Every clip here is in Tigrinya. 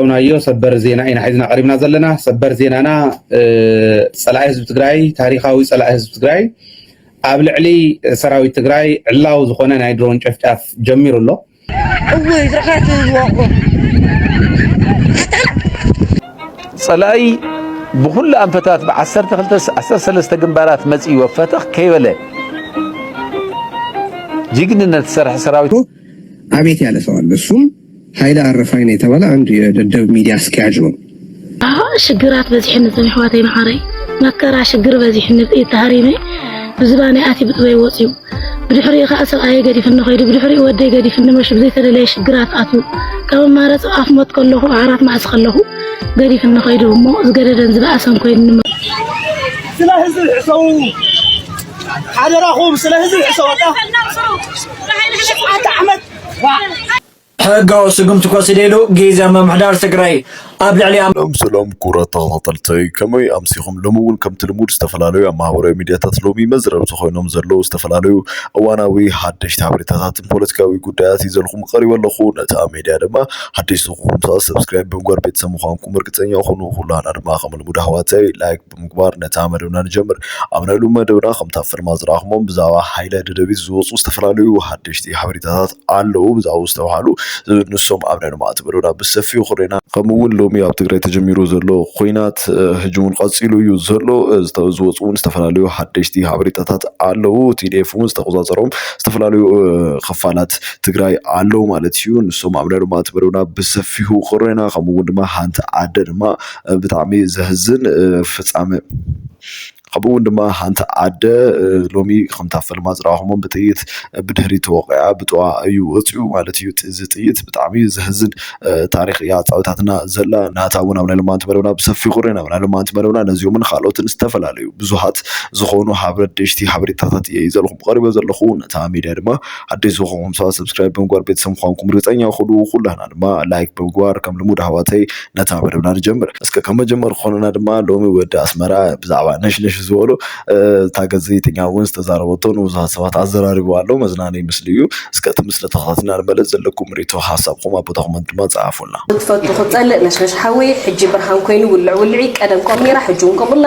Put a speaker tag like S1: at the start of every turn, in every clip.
S1: ዝፈተውናዮ ሰበር ዜና ኢና ሒዝና ቀሪብና ዘለና። ሰበር ዜናና ፀላኢ ህዝቢ ትግራይ ታሪካዊ ፀላኢ ህዝቢ ትግራይ ኣብ ልዕሊ ሰራዊት ትግራይ ዕላዊ ዝኾነ ናይ ድሮን ጨፍጫፍ ጀሚሩ ኣሎ። እውይ
S2: ዝረኸት ዝወቁ
S3: ፀላኢ ብኩሉ ኣንፈታት ብዓሰርተ ክልተ ዓሰርተ ሰለስተ ግንባራት መፂኡ ፈተኽ ከይበለ ጅግንነት ዝሰርሐ ሰራዊት አቤት ያለ
S4: ሰው አለ። እሱም ኃይለ አረፋይ ነው የተባለ አንድ የደደብ ሚዲያ አስኪያጅ ነው። አዎ ሽግራት
S5: በዚሕን ዘም ሕዋተይ መዓረይ መከራ ሽግር በዚሕን ተሃሪመ ብዝባነይ ኣቲ ብጥበይ ወፅዩ ብድሕሪኡ ከዓ ሰብኣየ ገዲፍኒ ከይዱ ብድሕሪኡ ወደይ ገዲፍኒ መሽ ብዘይተደለየ ሽግራት ኣትዩ ካብ ኣማረፂ ኣፍ ሞት ከለኹ ዓራት ማእሲ ከለኹ ገዲፍኒ ከይዱ እሞ ዝገደደን ዝበኣሰን ኮይኑኒ ስለ ህዝቢ
S2: ሕሰቡ ሓደራኹም ስለ ህዝቢ ሕሰቡ
S6: ሕጋዊ ስጉምቲ ክወስደሉ ግዝያዊ ምምሕዳር ትግራይ ኣብ ልዕሊ ሰላም ሰላም ክቡራት
S7: ተኸታተልተይ ከመይ ኣምሲኹም ሎሚ እውን ከምቲ ልሙድ ዝተፈላለዩ ኣብ ማህበራዊ ሚድያታት ሎሚ መዝረብቲ ኮይኖም ዘለዉ ዝተፈላለዩ እዋናዊ ሓደሽቲ ሓበሬታታትን ፖለቲካዊ ጉዳያት ይዘልኹም ቀሪበ ኣለኹ ነታ ሚድያ ድማ ሓደሽቲ ኩኹም ሰብስክራይብ ብምግባር ቤተሰብ ምዃንኩም እርግፀኛ ኩኑ ኩላና ድማ ከም ልሙድ ኣሕዋተይ ላይክ ብምግባር ነታ መደብና ንጀምር። ኣብ ናይ ሎሚ መደብና ከምቲ ኣብ ፍርማ ዝረኣኹሞም ብዛዕባ ሃይለ ደደቢት ዝወፁ ዝተፈላለዩ ሓደሽቲ ሓበሬታታት ኣለዉ ብዛዕባ ዝተባሃሉ ንሶም ኣብ ናይ ሎማዕቲ መደብና ብሰፊሑ ክሬና ከምኡ እውን ሎሚ ኣብ ትግራይ ተጀሚሩ ዘሎ ኮይናት ሕጂ እውን ቀፂሉ እዩ ዘሎ ዝወፁ እውን ዝተፈላለዩ ሓደሽቲ ሓበሬታታት ኣለዉ ቲዲኤፍ እውን ዝተቆፃፀሮም ዝተፈላለዩ ክፋላት ትግራይ ኣለዉ ማለት እዩ ንሶም ኣብ ናይ ሎማዕቲ መደብና ብሰፊሑ ክሬና ከምኡ እውን ድማ ሓንቲ ኣደ ድማ ብጣዕሚ ዘሕዝን ፍጻመ ከምኡ እውን ድማ ሓንቲ ኣደ ሎሚ ከምታ ፈልማ ዝረኣኹሞም ብጥይት ብድሕሪት ተወቒዓ ብጥዋ እዩ ወፂኡ ማለት እዩ እዚ ጥይት ብጣዕሚ ዘሕዝን ታሪክ እያ ኣፃዊታትና ዘላ ናታ እውን ኣብ ናይ ሎማንቲ መደብና ብሰፊሑ ርኢና ኣብ ናይ ሎማንቲ መደብና ነዚኦምን ካልኦትን ዝተፈላለዩ ብዙሃት ዝኾኑ ሓበደሽቲ ሓበሬታታት እየ ይዘልኹም ቀሪበ ዘለኹ ነታ ሚድያ ድማ ሓደሽ ዝኾንኩም ሰባት ሰብስክራይብ ብምግባር ቤተሰብ ምዃንኩም ርግፀኛ ኩኑ ኩላህና ድማ ላይክ ብምግባር ከም ልሙድ ኣሕዋተይ ነታ መደብና ንጀምር እስከ ከም መጀመሪ ክኾነና ድማ ሎሚ ወዲ ኣስመራ ብዛዕባ ነሽነሽ ዝበሎ እ፣ እታ ጋዜጠኛ እውን ዝተዛረበቶ ንብዙሃት ሰባት ኣዘራሪቡ ኣሎ መዝናነይ ምስሊ እዩ እስከ እቲ ምስሊ ተኸታቲልና ንመለስ ዘለኩም ርኢቶ ሓሳብኩም ኣብ ቦታ ኮመንት ድማ ፀሓፉልና ክትፈቱ ክትፀልእ
S8: ነሽነሽ ሓወይ ሕጂ ብርሃን ኮይኑ ውልዕ ውልዒ ቀደም ከምኡ ነይራ ሕጂ እውን ከምኡ ኣላ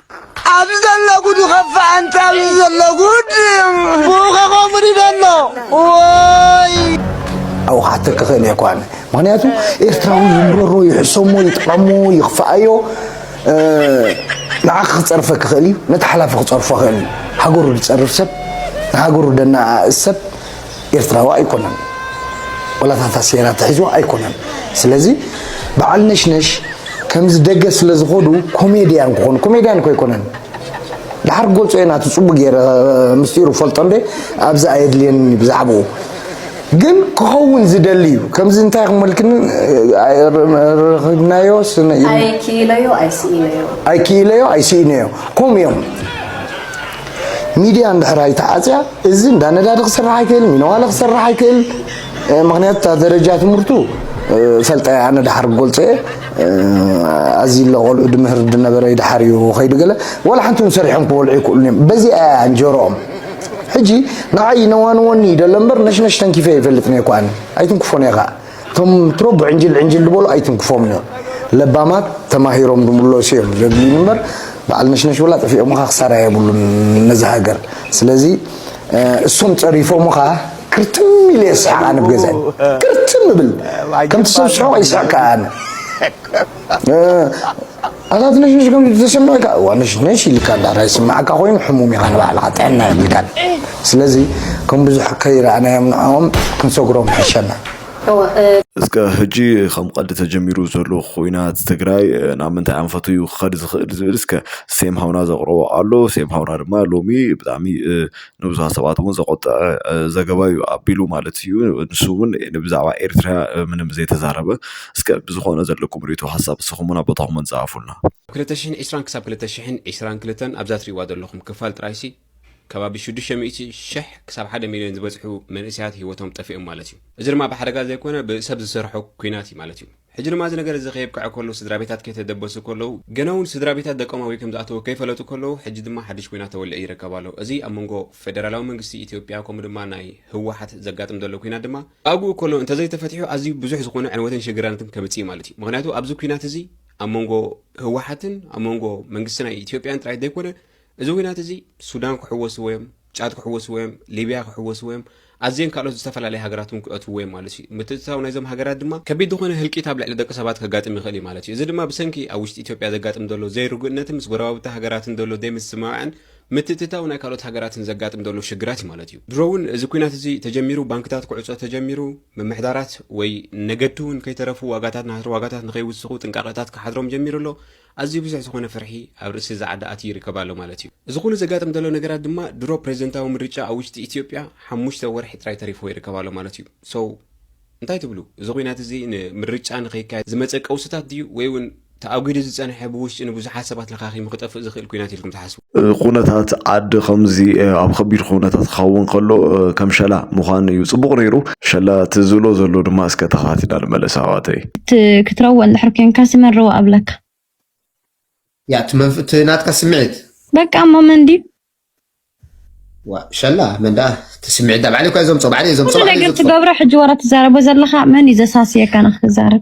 S2: ኣብዚ ዘሎ ጉዱ ኸፋ ኣንታ ኣብዚ ዘሎ ጉድ ብኡኸ ከምኡ ድደሎ ወይ
S9: ኣብኡ ክሓተኪ ክእል እየ ኳነ ምክንያቱ ኤርትራዊ ይምረሮ ይሕሰሞ ይጥቐሞ ይኽፍኣዮ ንዓኺ ክፀርፈ ክኽእል እዩ ነቲ ሓላፊ ክፀርፎ ክእል እዩ ሃገሩ ዝፀርፍ ሰብ ንሃገሩ ደናኣእስ ሰብ ኤርትራዊ ኣይኮነን ወላ እታ ታሴራ ተሒዝዋ ኣይኮነን ስለዚ በዓል ነሽነሽ ከምዚ ደገ ስለ ዝኸዱ ኮሜድያን ክኾኑ ኮሜድያን እኮ ኣይኮነን ድሓር ክገልጾ እየ ናቱ ፅቡቅ ገይረ ምስጢሩ ፈልጦ እንደ ኣብዚ ኣየድልየኒ ብዛዕባኡ ግን ክኸውን ዝደሊ እዩ ከምዚ እንታይ ክመልክን ረኽብናዮ ኣይክኢለዮ ኣይስኢነዮ ኮም እዮም ሚድያ እንድሕር ኣይተዓፅያ እዚ እንዳ ነዳዲ ክሰርሕ ኣይክእል፣ ሚነዋለ ክሰርሕ ኣይክእል። ምክንያቱ እታ ደረጃ ትምህርቱ ፈልጠ ኣነ ድሓር ክገልፆ እየ ኣዚ ለቆልዑ ድምህር ድነበረ ድሓር እዩ ከይዱ ገለ ዋላ ሓንቲ እውን ሰሪሖም ክበልዑ ይክእሉን እዮም በዚ ኣያ እንጀሮኦም ሕጂ ንዓይ ነዋንወኒ ይደሎ እምበር ነሽነሽ ተንኪፈ ይፈልጥ ነይኳ ኣይትንክፎን እየ ከዓ እቶም ወትሮ ብዕንጅል ዕንጅል ዝበሉ ኣይትንክፎም እዮም ለባማት ተማሂሮም ዝምለሱ እዮም ዘድልዩ እምበር በዓል ነሽነሽ ብላ ጥፊኦምኻ ክሳራ የብሉን ነዚ ሃገር ስለዚ እሶም ፀሪፎምኻ ክርትም ኢለ የስሕቕ ኣነ ብገዛይ ክርትም እብል ከምቲ ሰብ ስሕቕ ይስሕቅ ኣነ ኣታ ትንሽንሽ ከምዚ ተሰሚዑካ እዋ ንሽንሽ ኢልካ ድሕራይ ዝስምዓካ ኮይኑ ሕሙም ኢኻ ንባዕልኻ ጥዕና የብልካን ስለዚ ከም ብዙሕ ከይረኣናዮም ንዕኦም ክንሰግሮም ይሕሸና።
S7: እስከ ህጂ ከም ቀልዲ ተጀሚሩ ዘሎ ኩናት ትግራይ ናብ ምንታይ ኣንፈቱ እዩ ክኸድ ዝኽእል ዝብል እስከ ሴም ሃውና ዘቕረቦ ኣሎ። ሴም ሃውና ድማ ሎሚ ብጣዕሚ ንብዙሓት ሰባት እውን ዘቖጠዐ ዘገባ እዩ ኣቢሉ ማለት እዩ ንሱ እውን ብዛዕባ ኤርትራ ምንም ዘይተዛረበ እስከ ብዝኾነ ዘለኩም ርእቶ ሓሳብ ንስኹምን ኣብ ቦታኹምን ጸሓፉልና ክልተ
S10: ሽሕን ዕስራን ክሳብ ክልተ ሽሕን ዕስራን ክልተን
S7: ኣብዛ
S10: ትርእይዋ ዘለኹም ክፋል ጥራይሲ ከባቢ ሽዱሽተ ሚእቲ ሽሕ ክሳብ ሓደ ሚልዮን ዝበጽሑ መንእሰያት ህይወቶም ጠፊኦም ማለት እዩ። እዚ ድማ ብሓደጋ ዘይኮነ ብሰብ ዝሰርሖ ኲናት እዩ ማለት እዩ። ሕጂ ድማ እዚ ነገር እዚ ከየብቅዐ ከሎ ስድራቤታት ከይተደበሱ ከለዉ ገናውን ስድራቤታት ደቆም ኣበይ ከምዝኣተዉ ከይፈለጡ ከለዉ ሕጂ ድማ ሓድሽ ኲናት ተወሊዑ ይርከብ ኣሎ። እዚ ኣብ መንጎ ፌደራላዊ መንግስቲ ኢትዮጵያ ከምኡ ድማ ናይ ህወሓት ዘጋጥም ዘሎ ኲናት ድማ ኣብኡ ከሎ እንተዘይተፈቲሑ ኣዝዩ ብዙሕ ዝኾነ ዕንወትን ሽግራናትን ከምጽእ እዩ ማለት እዩ። ምኽንያቱ ኣብዚ ኲናት እዚ ኣብ መንጎ ህወሓትን ኣብ መንጎ መንግስቲ ናይ ኢትዮጵያን ጥራይ ዘይኮነ እዚ ዊናት እዚ ሱዳን ክሕወስዎ ዮም ጫድ ክሕወስዎ ዮም ሊብያ ክሕወስዎ ዮም ኣዝየን ካልኦት ዝተፈላለያ ሃገራት ውን ክእትውዎ ዮም ማለት ዩ ምትእትታው ናይዞም ሃገራት ድማ ከቢድ ዝኾነ ህልቂት ኣብ ልዕሊ ደቂ ሰባት ከጋጥም ይኽእል ዩ ማለት ዩ እዚ ድማ ብሰንኪ ኣብ ውሽጢ ኢትዮጵያ ዘጋጥም ዘሎ ዘይርጉእነትን ምስ ጎረባብቲ ሃገራትን ዘሎ ዘይምስምማዕን ምትእትታው ናይ ካልኦት ሃገራትን ዘጋጥም ዘሎ ሽግራት ዩ ማለት ዩ። ድሮ ውን እዚ ኩናት እዚ ተጀሚሩ ባንክታት ክዕጾ ተጀሚሩ ምምሕዳራት ወይ ነገድቲ ውን ከይተረፉ ዋጋታት ናህሪ ዋጋታት ንከይውስኹ ጥንቃቐታት ክሓድሮም ጀሚሩ ኣሎ ኣዝዩ ብዙሕ ዝኾነ ፍርሒ ኣብ ርእሲ እዚ ዓዲ ኣትዩ ይርከብ ኣሎ ማለት እዩ። እዚ ኩሉ ዘጋጥም ዘሎ ነገራት ድማ ድሮ ፕረዚደንታዊ ምርጫ ኣብ ውሽጢ ኢትዮጵያ ሓሙሽተ ወርሒ ጥራይ ተሪፍዎ ይርከብ ኣሎ ማለት እዩ። So እንታይ ትብሉ? እዚ ኩናት እዚ ንምርጫ ንኸይካየድ ዝመጸ ቀውስታት ድዩ ወይ'ውን ተኣጒዱ ዝጸንሐ ብውሽጢ ንብዙሓት ሰባት ለኻኺሙ ክጠፍእ ዝኽእል ኩናት ኢልኩም ትሓስቡ? ኩነታት
S7: ዓዲ ከምዚ ኣብ ከቢድ ኩነታት ክኸውን ከሎ ከም ሸላ ምዃን እዩ ጽቡቕ ነይሩ። ሸላ እቲ ዝብሎ ዘሎ ድማ እስከ ተኸታቲና ንመለስ ኣሕዋተይ። እቲ ክትረዎ
S11: እንድሕር ኮንካ ስመረዎ ኣብለካ።
S12: ያእ እቲ መንፍ እቲ ናትካ ስምዒት። በቃ እሞ መን
S11: ድዩ? ዋእ
S12: ሸላ መን ደኣ እቲ ስምዒት ደኣ ባዕለይ እኮ እየ ዘምጾ ባዕለይ እየ ዘምጾ ኩሉ ባዕለይ እየ ነገር ዘጥፍኦ። ትገብሮ ሕጂ ወረ
S11: ትዛረቦ ዘለኻ መን እዩ ዘሳስየካ ንክትዛረብ?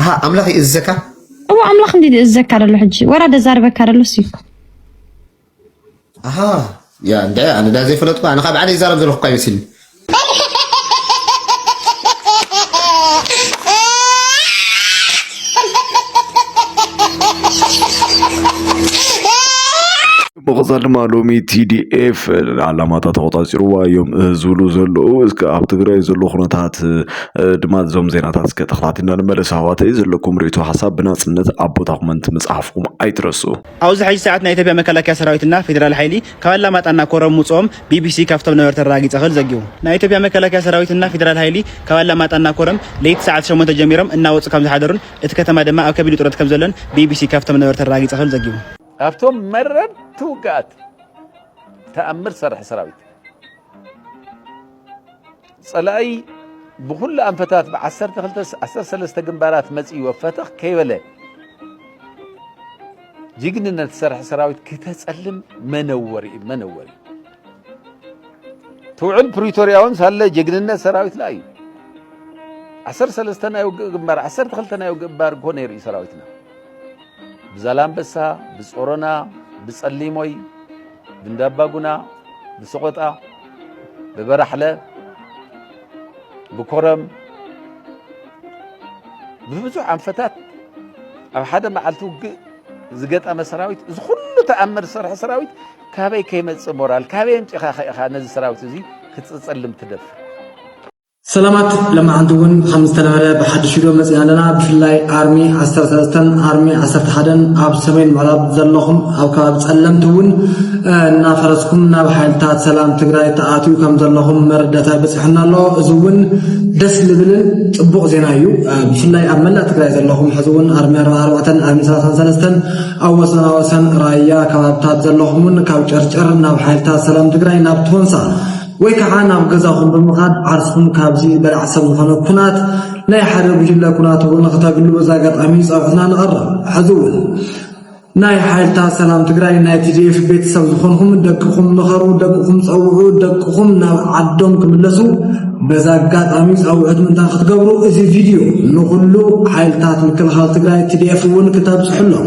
S12: ኣሃ ኣምላኽ ይእዝዘካ እዎ ኣምላኽ እንዲ
S11: ዝእዘካ ደሎ ሕጂ ወራ ደዛርበካ ደሎ ሲ ኣሃ
S12: ያ እንደ ኣነ ዳ ዘይፈለጥኩ ኣነ ካብ ባዕለይ ይዛረብ ዘለኹ እኳ ይመስልኒ
S7: መቐፃል ድማ ሎሚ ቲዲኤፍ ዓላማታ ተቆፃፂርዋ እዮም ዝብሉ ዘለዉ እስከ ኣብ ትግራይ ዘሎ ኩነታት ድማ እዞም ዜናታት እስከ ተኸታቲልና ንመለስ ኣሕዋተይ ዘለኩም ርእቶ ሓሳብ ብናፅነት ኣብ ቦታ ኮመንት ምፅሓፍኩም ኣይትረሱ ኣብዚ ሕጂ ሰዓት
S13: ናይ ኢትዮጵያ መከላከያ ሰራዊት እና ፌደራል ሓይሊ ካብ ኣላማጣ እና ኮረም ምውፅኦም ቢቢሲ ካብቶም ነበርቲ ኣረጋጊፀ ክብል ዘጊቡ። ናይ ኢትዮጵያ መከላከያ ሰራዊት እና ፌደራል ሓይሊ ካብ ኣላማጣ እና ኮረም ለይቲ ሰዓት ሸሞንተ ጀሚሮም እናወፁ ከምዝሓደሩን እቲ ከተማ ድማ ኣብ ከቢድ ውጥረት ከምዘሎን ቢቢሲ ካብቶም ነበርቲ ኣረጋጊፀ ክብል ዘጊቡ። ኣብቶም
S3: መረርቲ ውግኣት ተኣምር ዝሰርሐ ሰራዊት ጸላኢ ብኹሉ ኣንፈታት ብ12-13 ግንባራት መጺኡ ወፈተኽ ከይበለ ጅግንነት ዝሰርሐ ሰራዊት ክተጸልም መነወሪ እዩ መነወሪ ትውዕል ፕሪቶሪያውን ሳለ ጅግንነት ሰራዊትና እዩ 13 ናይ ውግእ ግንባር 12 ናይ ውግእ ግንባር እኮ ነይሩ እዩ ሰራዊትና ብዛላምበሳ፣ ብጾሮና፣ ብጸሊሞይ፣ ብእንዳባጉና፣ ብሰቖጣ፣ ብበራሕለ፣ ብኮረም ብብዙሕ ኣንፈታት ኣብ ሓደ መዓልቲ ውግእ ዝገጠመ ሰራዊት እዚ ኩሉ ተኣምር ዝሰርሐ ሰራዊት ካበይ ከይመጽእ ሞራል ካበይ ኣምጺኻ ኢኻ ነዚ ሰራዊት እዚ ክትጽልም ትደፍር?
S14: ሰላማት ለማዓንቲ እውን ከም ዝተለመደ ብሓዱሽ ቪድዮ መፂና ኣለና ብፍላይ ኣርሚ ዓሰርተ ሰለስተን ኣርሚ ዓሰርተ ሓደን ኣብ ሰሜን ምዕራብ ዘለኹም ኣብ ከባቢ ፀለምቲ እውን እናፈረስኩም ናብ ሓይልታት ሰላም ትግራይ ተኣትዩ ከም ዘለኹም መረዳእታ ይበፅሐና ኣሎ እዚ እውን ደስ ዝብልን ፅቡቕ ዜና እዩ ብፍላይ ኣብ መላእ ትግራይ ዘለኹም ሕዚ እውን ኣርሚ ኣርባ ኣርባዕተን ኣርሚ ሰላሳን ሰለስተን ኣብ ወሰና ወሰን ራያ ከባብታት ዘለኹም እውን ካብ ጨርጨር ናብ ሓይልታት ሰላም ትግራይ ናብ ቶንሳ ወይ ከዓ ናብ ገዛኹም ብምኻድ ዓርስኹም ካብዚ በላዕ ሰብ ዝኾነ ኩናት ናይ ሓደ ጉጅለ ኩናት እውን ንክተግሉ በዚ ኣጋጣሚ ፀውዕትና ንቐርብ። ሕዚ እውን ናይ ሓይልታት ሰላም ትግራይ ናይ ቲዲኤፍ ቤተሰብ ዝኾንኹም ደቅኹም ምኸሩ፣ ደቅኹም ፀውዑ፣ ደቅኹም ናብ ዓዶም ክምለሱ በዚ ኣጋጣሚ ፃውዕት ምንታ ክትገብሩ እዚ ቪድዮ ንኹሉ ሓይልታት ምክልኻል ትግራይ ቲዲኤፍ እውን ክተብፅሕሎም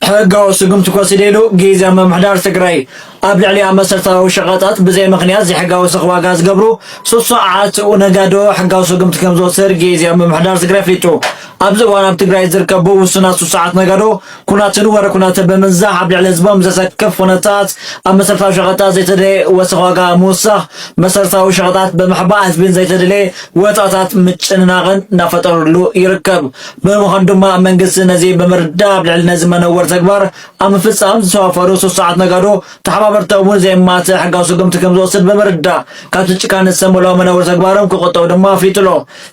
S14: ሕጋዊ
S6: ስጉምቲ ክወስድ ኢሉ ግዝያዊ ምምሕዳር ትግራይ ኣብ ልዕሊያ መሰረታዊ ሸቐጣት ብዘይ ምኽንያት ዘይሕጋዊ ስኽ ዋጋ ዝገብሩ ሱሱዓት ነጋዶ ሕጋዊ ስጉምቲ ከምዝወስድ ግዝያዊ ምምሕዳር ትግራይ ኣፍሊጡ። ኣብዚ እዋን ኣብ ትግራይ ዝርከቡ ውሱናት ሱሱዓት ነጋዶ ኩናትን ወረ ኩናትን ብምንዛሕ ኣብ ልዕሊ ህዝቦም ዘሰክፍ ኩነታት ኣብ መሰረታዊ ሸቐጣት ዘይተደለየ ወሰኽ ዋጋ ምውሳኽ መሰረታዊ ሸቐጣት ብምሕባእ ህዝቢን ዘይተደለየ ወፃእታት ምጭንናቕን እናፈጠርሉ ይርከብ። ብምዃኑ ድማ መንግስቲ ነዚ ብምርዳእ ኣብ ልዕሊ ነዚ መነወሪ ተግባር ኣብ ምፍፃም ዝተዋፈሩ ስሱዓት ነጋዶ ተሓባበርቶም እውን ዘየማትእ ሕጋዊ ስጉምቲ ከምዝወስድ ብምርዳእ ካብቲ ጭካነ ዝተመልኦ መነወሪ ተግባሮም ክቑጠቡ ድማ ኣፍሊጡ ኣሎ።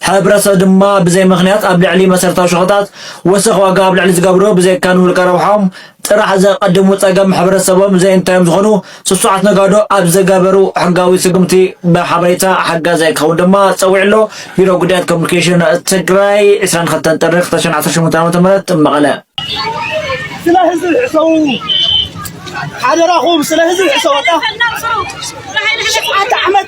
S6: ሕብረተሰብ ድማ ብዘይ ምኽንያት ኣብ ልዕሊ መሰረታዊ ሸቐጣት ወሰኽ ዋጋ ኣብ ልዕሊ ዝገብሩ ብዘይካ ንውልቀ ረብሓኦም ጥራሕ ዘቐድሙ ፀገም ሕብረተሰቦም ዘይእንታዮም ዝኾኑ ስሱዓት ነጋዶ ኣብ ዘገበሩ ሕጋዊ ስጉምቲ ብሓበሬታ ሓጋዛይ ክኸውን ድማ ፀዊዑ ኣሎ ቢሮ ጉዳያት ኮሙኒኬሽን ትግራይ ዕስራን ክልተን ጥሪ ክልተ ሽሕን ዓሰርተ ሸሞንተን ዓመተ ምህረት መቐለ
S2: ስለ ህዝቢ ሕሰቡ ሓደራኹም ስለ ህዝቢ ሕሰቡ ኣታ ዓመት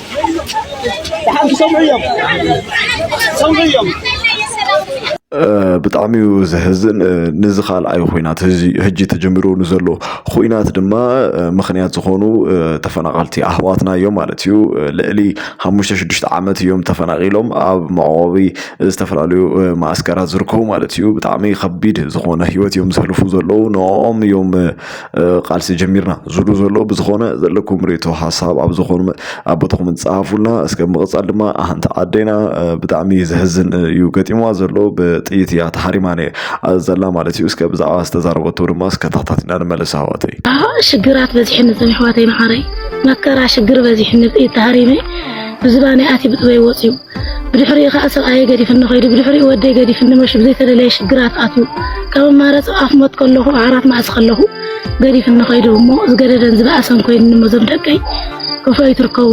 S7: ብጣዕሚ እዩ ዘሕዝን ንዚ ካልኣይ ኹናት ሕጂ ተጀሚሩ ንዘሎ ኹናት ድማ ምኽንያት ዝኾኑ ተፈናቐልቲ ኣሕዋትና እዮም ማለት እዩ ልዕሊ ሓሙሽተ ሽዱሽተ ዓመት እዮም ተፈናቒሎም ኣብ መዕቆቢ ዝተፈላለዩ መዓስከራት ዝርከቡ ማለት እዩ ብጣዕሚ ከቢድ ዝኾነ ሂወት እዮም ዘሕልፉ ዘለዉ ንዕኦም እዮም ቃልሲ ጀሚርና ዝሉ ዘሎ ብዝኾነ ዘለኩም ሬቶ ሓሳብ ኣብ ዝኾኑ ኣብ ቦታኹም ጸሓፉልና እስከ ምቕጻል ድማ ኣንቲ ዓደና ብጣዕሚ ዘሕዝን እዩ ገጢምዋ ዘሎ ብጥይት እያ ተሓሪማ ዘላ ማለት እዩ እስከ ብዛዕባ ዝተዛረበቶ ድማ እስከ ታሕታትና ንመለስ ኣሕዋተይ ሽግራት
S5: በዚሕኒ ዘም ኣሕዋተይ መዓረይ መከራ ሽግር በዚሕኒ ብጥይት ተሃሪመ ብዝባነይ ኣትዩ ብጥበይ ወፅዩ ብድሕሪኡ ከኣ ሰብኣየይ ገዲፍኒ ከይዱ፣ ብድሕሪኡ ወደይ ገዲፍኒ መሹ ብዘይተደለየ ሽግራት ኣትዩ። ካብ ኣማረጽ ኣፍ ሞት ከለኹ ኣዕራፍ ማእሲ ከለኹ ገዲፍኒ ከይዱ እሞ ዝገደደን ዝበኣሰን ኮይኑኒ እሞ ዞም ደቀይ ከፍሎ ይትርከቡ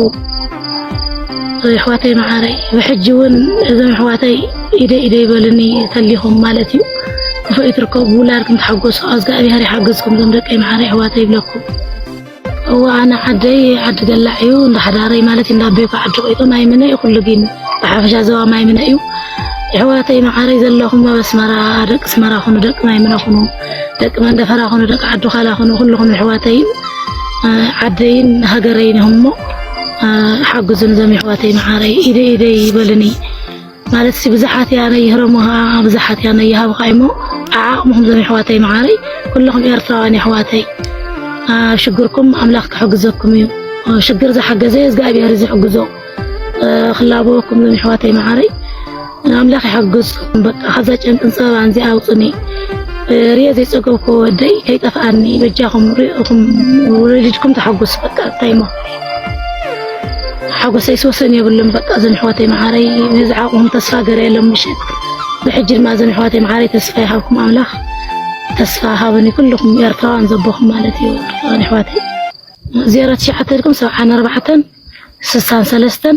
S5: ኣሕዋተይ መዓረይ ብሕጂ እውን እዞም ኣሕዋተይ ኢደ ኢደ ይበልኒ ተሊኹም ማለት እዩ ክፉእ ይትርከቡ ብውላድኩም ተሓጎሱ ኣዝጋኣብሄር ይሓግዝኩም ዞም ደቀይ መዓረይ ኣሕዋተይ ይብለኩም እወ ኣነ ዓደይ ዓዲ ገላዕ እዩ እንዳ ሓዳረይ ማለት እንዳ ኣቤኮ ዓዲ ቆይቶ ማይ ምነ እዩ ኩሉ ግን ብሓፈሻ ዘባ ማይ ምነ እዩ የሕዋተይ መዓረይ ዘለኹም ኣብ ኣስመራ ደቂ ኣስመራ ኹኑ ደቂ ማይ ምነ ኹኑ ደቂ መንደፈራ ኹኑ ደቂ ዓዱ ካላ ኹኑ ኩልኹም የሕዋተይ ዓደይን ሃገረይን እሞ ሓግዙን ዘም የሕዋተይ መዓረይ ኢደይ ኢደይ ይበልኒ ማለት ሲ ብዝሓት እያ ነይህረሙኻ ብዝሓት እያ ነይሃብኻ እሞ ዓዓቕምኹም ዞም የሕዋተይ መዓረይ ኩልኹም ኤርትራውያን የሕዋተይ ኣብ ሽግርኩም ኣምላኽ ክሕግዘኩም እዩ ሽግር ዝሓገዘ እግዚኣብሔር እዩ ዝሕግዞ ክላበወኩም ዞም የሕዋተይ መዓረይ ኣምላኽ ይሓግዝ በቃ ከዛ ጨንቅን ፀበባን እዚኣ ኣውፅኒ ርየ ዘይፀገብኩ ወደይ ከይጠፍኣኒ በጃኹም ርኢኹም ወለድኩም ተሓጉስ በቃ እንታይ እሞ ሓጎሰይስ ወሰን የብሉን በቃ እዘን ኣሕዋተይ መዓረይ ነዚ ዓቕሞም ተስፋ ገረየሎም ምሸት ብሕጂ ድማ እዘን ኣሕዋተይ መዓረይ ተስፋ ይሃብኩም ኣምላኽ ተስፋ ሃብኒ ኩልኹም ኤርትራውያን ዘቦኹም ማለት እዩ ኤርትራውያን ኣሕዋተይ ዜሮ ትሽዓተ ኢልኩም ሰብዓን ኣርባዕተን ስሳን ሰለስተን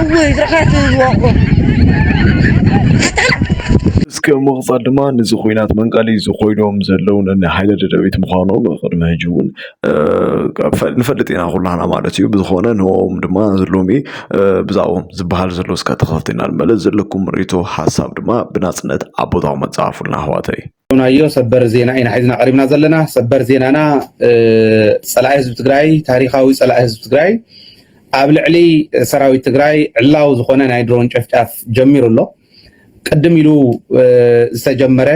S15: እውይ ዝረኸት ዝወቁ
S7: እስከ ምቕጻል ድማ ንዚ ኩናት መንቀሊ ዝኾይዶም ዘለዉ ነኒ ሓይለ ደደቢት ምዃኖም ቅድሚ ሕጂ እውን ንፈልጥ ኢና ኩላና ማለት እዩ ብዝኾነ ንኦም ድማ ሎሚ ብዛዕኦም ዝበሃል ዘሎ እስካ ተኸታተልና ንመለስ ዘለኩም ርእቶ ሓሳብ ድማ ብናጽነት ኣብ ቦታኡ መጻፉልና ኣሕዋተይ ናዮ ሰበር
S1: ዜና ኢና ሒዝና ቀሪብና ዘለና ሰበር ዜናና ፀላኢ ህዝቢ ትግራይ ታሪካዊ ፀላኢ ህዝቢ ትግራይ ኣብ ልዕሊ ሰራዊት ትግራይ ዕላዊ ዝኾነ ናይ ድሮን ጨፍጫፍ ጀሚሩ ኣሎ ቅድም ኢሉ ዝተጀመረ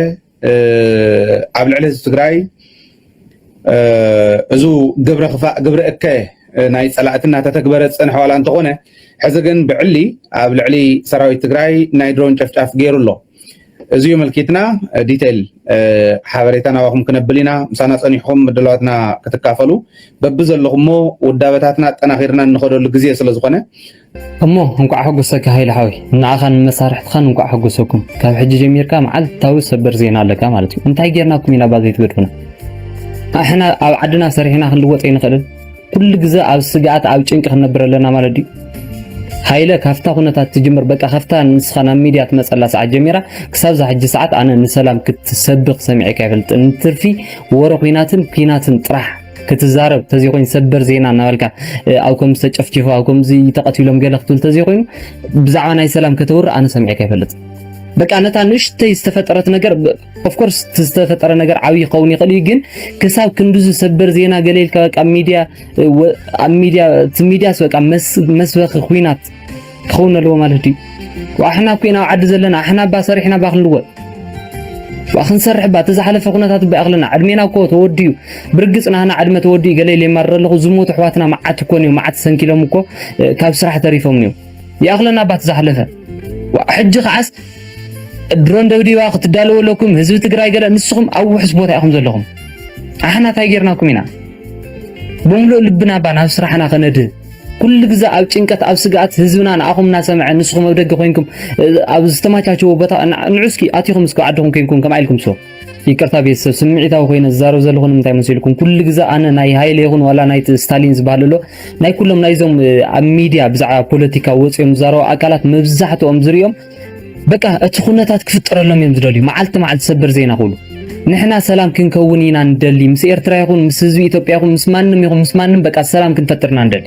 S1: ኣብ ልዕሊ ህዝቢ ትግራይ እዚ ግብረ ክፋእ ግብረ እከ ናይ ፀላእቲ እናተተግበረ ዝፀንሐ ዋላ እንተኾነ ሕዚ ግን ብዕሊ ኣብ ልዕሊ ሰራዊት ትግራይ ናይ ድሮን ጨፍጫፍ ገይሩ ኣሎ እዚዩ ምልኪትና ዲተይል ሓበሬታ ናባኹም ክነብል ኢና ምሳና ፀኒሕኹም ምድላዋትና ክትካፈሉ በቢ ዘለኹሞ ውዳበታትና ኣጠናኺርና እንኸደሉ ግዜ ስለ ዝኾነ እሞ
S16: እንኳዕ ሕጉሰካ ሃይለ ሓወይ ንዓኻን ንመሳርሕትኻን እንኳዕ ሕጉሰኩም ካብ ሕጂ ጀሚርካ መዓልታዊ ሰበር ዜና ኣለካ ማለት እዩ እንታይ ጌርናኩም ኢና ባዘይትገድፉና ኣሕና ኣብ ዓድና ሰሪሕና ክንልወጥ ኣይንኽእልን ኩሉ ግዘ ኣብ ስግኣት ኣብ ጭንቂ ክንነብር ኣለና ማለት ድዩ? ሃይለ ካብታ ኩነታት ትጅምር በቃ ካብታ ንስኻ ናብ ሚድያ ትመፀላ ሰዓት ጀሚራ ክሳብ እዛ ሕጂ ሰዓት ኣነ ንሰላም ክትሰብኽ ሰሚዐካ ኣይፈልጥን እንትርፊ ወረ ኩናትን ኩናትን ጥራሕ ክትዛረብ ተዘይኮይኑ ሰበር ዜና እናበልካ ኣብ ከምዚ ተጨፍጪፉ ኣብ ከምዚ ተቐቲሎም ገለ ክትብል ተዘይኮይኑ ብዛዕባ ናይ ሰላም ከተውርእ ኣነ ሰሚዐካ ኣይፈልጥን በቃ ነታ ንእሽተይ ዝተፈጠረት ነገር ኦፍኮርስ ዝተፈጠረ ነገር ዓብይ ክኸውን ይኽእል እዩ፣ ግን ክሳብ ክንድዚ ሰበር ዜና ገለ ኢልካ በቃ ሚዲያ ኣብ ሚዲያ እቲ ሚዲያስ በቃ መስበኺ ኩናት ክኸውን ኣለዎ ማለት ድዩ? ኣሕና ኮይና ኣብ ዓዲ ዘለና ኣሕና ባ ሰሪሕና ባ ክንልወጥ ባ ክንሰርሕ ባ እቲ ዝሓለፈ ኩነታት ባ ኣኽልና ዕድሜና እኮ ተወዲኡ ብርግፅ ናህና ዕድመ ተወዲኡ ገለ ኢለ ይማርር ኣለኹ ዝሞቱ ኣሕዋትና መዓት እኮ እዮም መዓት ሰንኪሎም እኮ ካብ ስራሕ ተሪፎም እዮም ይኣኽለና ባት ዝሓለፈ ሕጂ ከዓስ ድሮን ደብዲባ ክትዳለዉ ኣለኩም ህዝቢ ትግራይ ገለ ንስኹም ኣብ ውሑስ ቦታ ኢኹም ዘለኹም ኣሕና እንታይ ጌርናኩም ኢና ብምሉእ ልብና ባ ናብ ስራሕና ከነድህ ኩሉ ግዜ ኣብ ጭንቀት ኣብ ስግኣት ህዝብና ንኣኹም እናሰምዐ ንስኹም ኣብ ደገ ኮንኩም ኣብ ዝተመቻቸወ ቦታ ንዑ እስኪ ኣቲኹም እስኪ ዓድኹም ኮንኩም ከምኣ ኢልኩም ስሩ ይቅርታ ቤተሰብ ስምዒታዊ ኮይነ ዝዛረብ ዘለኹ ንምንታይ መሲልኩም ኩሉ ግዜ ኣነ ናይ ሃይለ ይኹን ዋላ ናይ ስታሊን ዝበሃል ኣሎ ናይ ኩሎም ናይዞም ኣብ ሚድያ ብዛዕባ ፖለቲካ ወፂኦም ዝዛረቡ ኣካላት መብዛሕትኦም ዝርኦም በቃ እቲ ኩነታት ክፍጠረሎም እዮም ዝደልዩ መዓልቲ መዓልቲ ሰበር ዜና ኩሉ ንሕና ሰላም ክንከውን ኢና ንደሊ ምስ ኤርትራ ይኹን ምስ ህዝቢ ኢትዮጵያ ይኹን ምስ ማንም ይኹን ምስ ማንም በቃ ሰላም ክንፈጥርና ንደሊ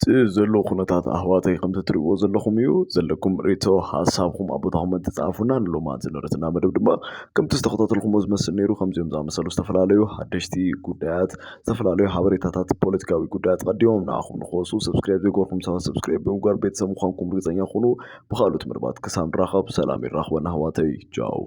S4: እቲ ዘሎ
S7: ኩነታት ኣሕዋተይ ከምቲ ትሪእዎ ዘለኹም እዩ። ዘለኩም ርእይቶ ሓሳብኩም ኣብ ቦታ ኮመንት ጸሓፉልና። ንሎማት ዝነበረትና መደብ ድማ ከምቲ ዝተኸታተልኩሞ ዝመስል ነይሩ። ከምዚኦም ዝኣመሰሉ ዝተፈላለዩ ሓደሽቲ ጉዳያት፣ ዝተፈላለዩ ሓበሬታታት፣ ፖለቲካዊ ጉዳያት ቀዲሞም ንዓኹም ንክወጹ ሰብስክራይብ ዘይገበርኩም ሰባት ሰብስክራይብ ብምግባር ቤተሰብ ምዃንኩም ርግጸኛ ኩኑ። ብኻልኦት መደባት ክሳብ ንራኸብ ሰላም የራኽበና ኣሕዋተይ። ቻው!